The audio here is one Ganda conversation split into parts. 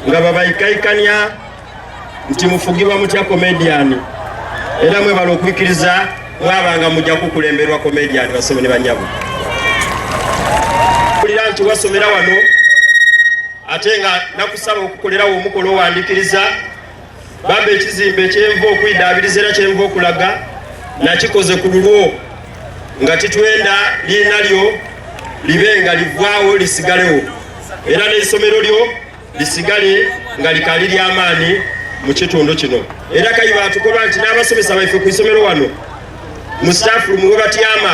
nga babaikaikania nti mufugibwa mutya komediyani era mwebala okwikiriza mwabanga mujja kukulemberwa komediyani basome ne banyabo kulira nti wasomera wano ate nga nakusaba okukolerawo omukola owandikiriza bambe ekizimbe kyenva okwidaabiriza era kyenva okulaga nakikoze ku lulwo nga titwenda liina lyo libe nga livwawo lisigalewo era n'esomero lyo lisigale nga likali ly'amaanyi mu kitundu kino era kayi batukoba nti n'abasomesa baife ku isomero wano mu staff room webatyama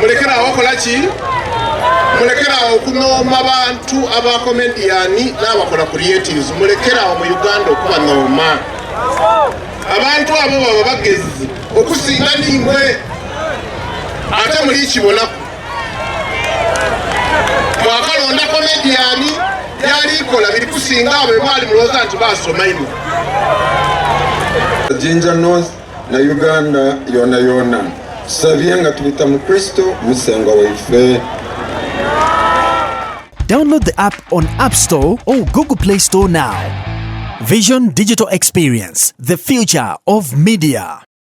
mulekerawo okola ki mulekerawo okunooma bantu abakomediyani n'abakola creatives mulekerawo mu uganda okuba nooma abantu abo baba bagezi okusinga nimwe ate muli kibonaku mwakalonda komediyani byalikola biri kusinga abo ebwali mulowooza nti basoma ino jinja north na uganda yona yona sabye nga tuyita mu kristo musenga waife Download the app on App Store or Google Play Store now. Vision Digital Experience, the future of media.